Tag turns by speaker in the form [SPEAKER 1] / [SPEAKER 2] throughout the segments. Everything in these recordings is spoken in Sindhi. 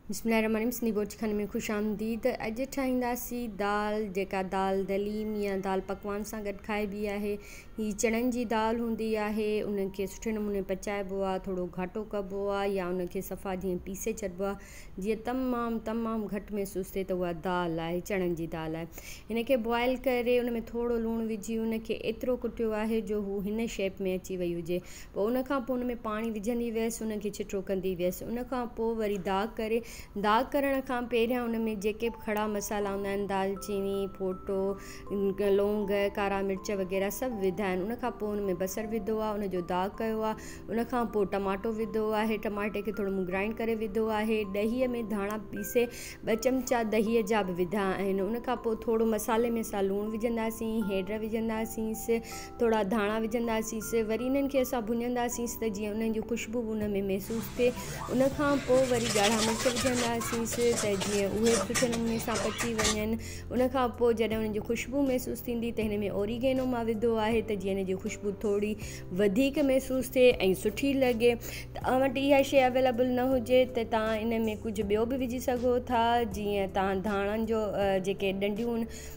[SPEAKER 1] بسم الله الرحمن الرحيم سنڌي بورچي خاني ۾ خوش آمديد اڄ ٺاهينداسين دال جيڪا دال دليم يا دال پڪوان سان گڏ کائبي آهي هي چڻن جي دال هوندي آهي ان کي سٺي نموني پچائبو آهي ٿورو گهاٽو ڪبو آهي يا ان کي صفا جيئن پيسي ڇڏبو آهي جيئن تمام تمام گهٽ محسوس ٿئي ته اها دال آهي چڻن جي دال آهي ان کي بوائل ڪري ان ۾ ٿورو لوڻ وجهي ان کي ايترو ڪٽيو آهي جو هو هن شيپ ۾ اچي وئي هجي پوء ان کان پوء ان ۾ پاڻي وجهندي ويس ان کي ڇٽو ڪندي ويس ان کان پوء وري داغ ڪري داغ ڪرڻ کان پهريان ان ۾ جيڪي به کڙا مصالحا هوندا آهن دال چيني ڦوٽو لونگ ڪارا مرچ وغيره سڀ وڌا آهن ان کان پوء ان ۾ بصر وڌو آهي ان جو داغ ڪيو آهي ان کان پوء ٽماٽو وڌو آهي ٽماٽي کي ٿورو مون گرائنڊ ڪري وڌو آهي ڏهي ۾ ڌاڻا پيسي ٻه چمچا ڏهي جا به وڌا آهن ان کان پوء ٿورو مصالحي ۾ اسان لوڻ وجهنداسين هيڊ وجهنداسين ٿورا ڌاڻا وجهنداسينس وري انهن کي اسان ڀڃنداسينس ته جيئن انهن جون خوشبو به ان ۾ محسوس ٿئي ان کان پوء وري ڳاڙها مرچ وجهنداسينس ته جيئن اهي به سٺي نموني سان پچي وڃن ان کان پوء جڏهن انهن جي خوشبو محسوس ٿيندي ته هن ۾ اوريگينو مان وڌو آهي ته جيئن ان جي خوشبو ٿوري وڌيڪ محسوس ٿئي ۽ سٺي لڳي توهان وٽ اها شيء اويليبل نه هجي ته توهان ان ۾ ڪجهه ٻيو به وجهي سگهو ٿا جيئن توهان ڌاڻن جو جيڪي ڏنڊيون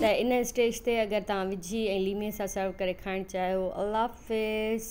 [SPEAKER 1] ته ان اسٽيج تي اگر توهان وجهي ۽ ليمي سان سرو ڪري کائڻ چاهيو الله حافظ.